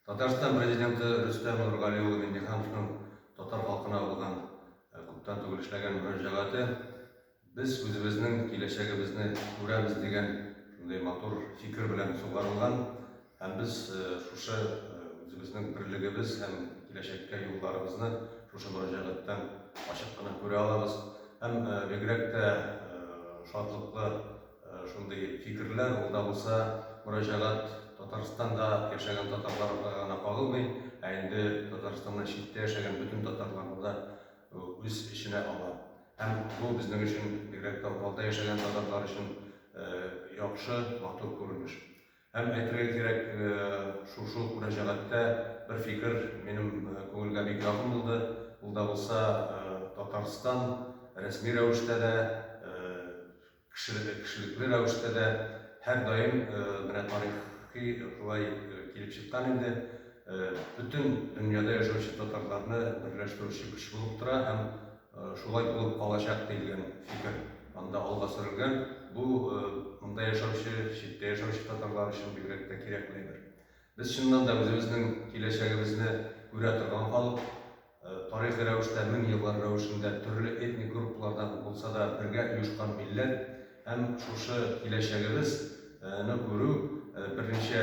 Татарстан Президенты Рөстәм Нургали улы Миңнехановның татар халкына булган күптән түгел эшләгән мөрәҗәгате Без үзебезнең киләчәгебезне күрәбез дигән шундый матур фикер белән сугарылган һәм без шушы үзебезнең берлегебез һәм киләчәккә юлларыбызны шушы мөрәҗәгатьтән ачык кына күрә алабыз һәм бигрәк тә шатлыклы Шундый фикерләр ул да булса мөрәҗәгать Татарстанда яшәгән татарларга гына кагылмый, ә инде Татарстаннан читтә яшәгән бөтен татарларны да үз эченә ала. Һәм бу безнең өчен, бигрәк тә Уралда яшәгән татарлар өчен яхшы, матур күренеш. Һәм әйтергә кирәк, шушы мөрәҗәгатьтә бер фикер минем күңелгә бик якын булды, ул да булса Татарстан рәсми рәвештә дә, Кешелекле, кешелекле рәвештә дә һәрдаим менә тарихи шулай килеп чыккан инде. Бөтен дөньяда яшәүче татарларны берләштерүче көч булып тора һәм шулай булып калачак диелгән фикер анда алга сөрелгән. Бу монда яшәүче, читтә яшәүче татарлар өчен бигрәк тә кирәкле әйбер. Без чыннан да үзебезнең киләчәгебезне күрә торган халык, Тарихи рәвештә мең еллар рәвешендә төрле этник группалардан булса да бергә оешкан милләт һәм шушы киләчәгебез ны күрү берничә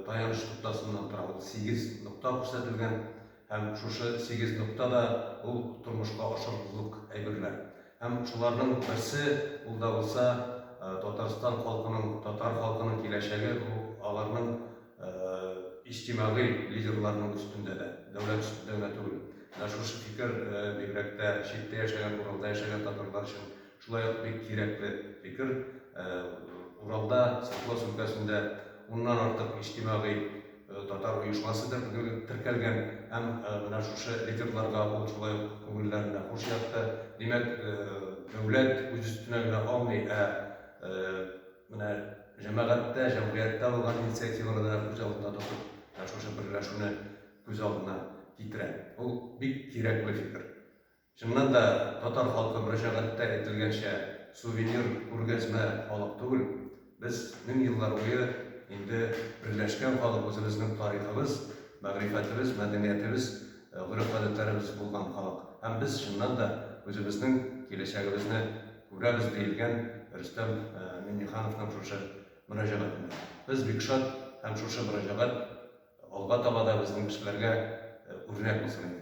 таяныч ноктасыннан тора. Ул сигез нокта күрсәтелгән һәм шушы сигез нокта да ул тормышка ашырырлык әйберләр. Һәм шуларның берсе ул да булса Татарстан халкының, татар халкының киләчәге, бу аларның иҗтимагый лидерларның өстендә дә, дәүләт өстендә генә түгел. Менә шушы фикер бигрәк тә читтә яшәгән, Уралда яшәгән татарлар өчен шулай ук бик кирәкле фикер. Уралда, Свердловск өлкәсендә уннан артык иҗтимагый татар оешмасы теркәлгән һәм менә шушы лидерларга ул шулай ук күңелләренә хуш ятты. Димәк, дәүләт үз өстенә генә алмый, ә Менә җәмәгатьтә, җәмгыятьтә булган инициативалар да күз алдында тотып, менә шушы берләшүне күз алдына китерә. Ул бик кирәкле фикер. Чыннан да, татар халкы мөрәҗәгатьтә әйтелгәнчә, сувенир, күргәзмә халык түгел. Без мең еллар буе инде берләшкән халык, үзебезнең тарихыбыз, мәгърифәтебез, мәдәниятебез, гореф-гадәтләребез булган халык. Һәм без, чыннан да, үзебезнең киләчәгебезне, Күрәбез, диелгән Рөстәм Миңнехановның шушы мөрәҗәгатендә. Без бик шат һәм шушы мөрәҗәгать алга таба да безнең кешеләргә үрнәк булсын иде.